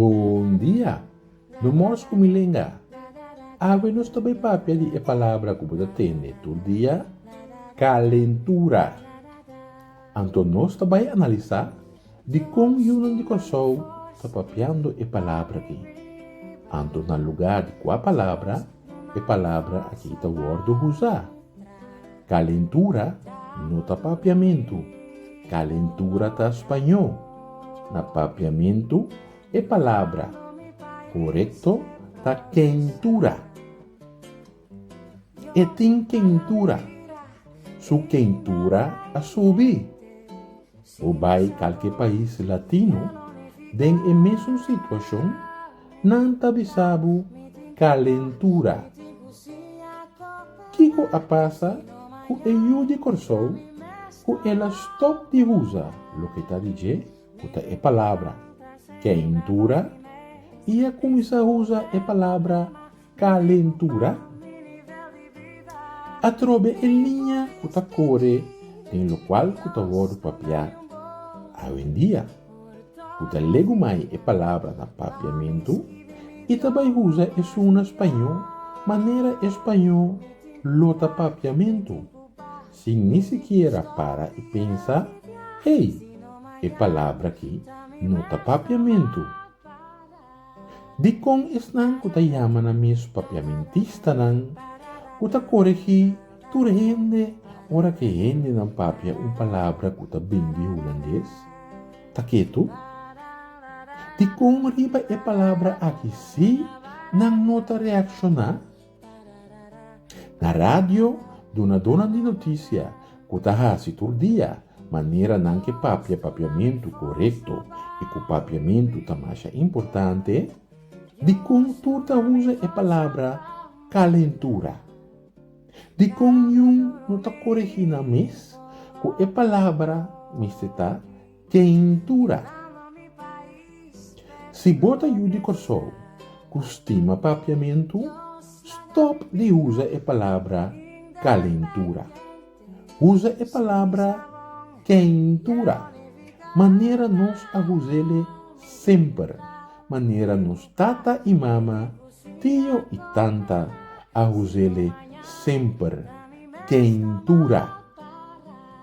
Un dia, no mors ku mi lenga. Awe nos ta bai papia di e palabra ku bo ta tende tur dia, kalentura. Anto nos ta bai analisá? Dikon yunan di Kòrsou ta papiando e palabra akí? Anto na lugá di kua palabra e palabra akí ta wòrdu usá? Kalentura no ta papiamentu, kalentura ta spañó. Na papiamentu e palabra korekto ta kentura. E tin kentura. Su kentura a subi. Bo bai kalke pais latino den e mesun situashon, nan ta bisa bo kalentura. Kiko a pasa ku e yu di Kòrsou ku el a stòp di usa loke ta di dje ku ta e palabra kentura i a kuminsá usa e palabra Calentura, Atrobe e liña cu ta core den locual cu ta wordo papiá awendia, cu ta legumai e palabra na papiamentu y ta bai uza esun na spañó manera e spañó lo ta papiamentu, sin ni sikiera para y pensa, Hey, e palabra aki no ta papiamentu. Dikon esnan ku ta yama nan mes papiamentistanan ku ta koregí tur hende ora ku e hendenan papia un palabra ku ta bin di hulandes? Ta ketu? Dikon riba e palabra aki sí nan no ta reakshoná? Na radio, dunadónan di notisia ku ta hasi tur dia manera nan ke papia papiamentu korekto i ku papiamentu ta masha importante, dikon tur ta usa e palabra kalentura? Dikon niun no ta koregí nan mes ku e palabra mester ta Tintura. Si bo ta yu di Kòrsou ku stima papiamentu, stòp di usa e palabra kalentura. Usa e palabra kentura, manera nos a us'e semper, manera nos tata i mama, tio i tanta a us'e semper, kentura.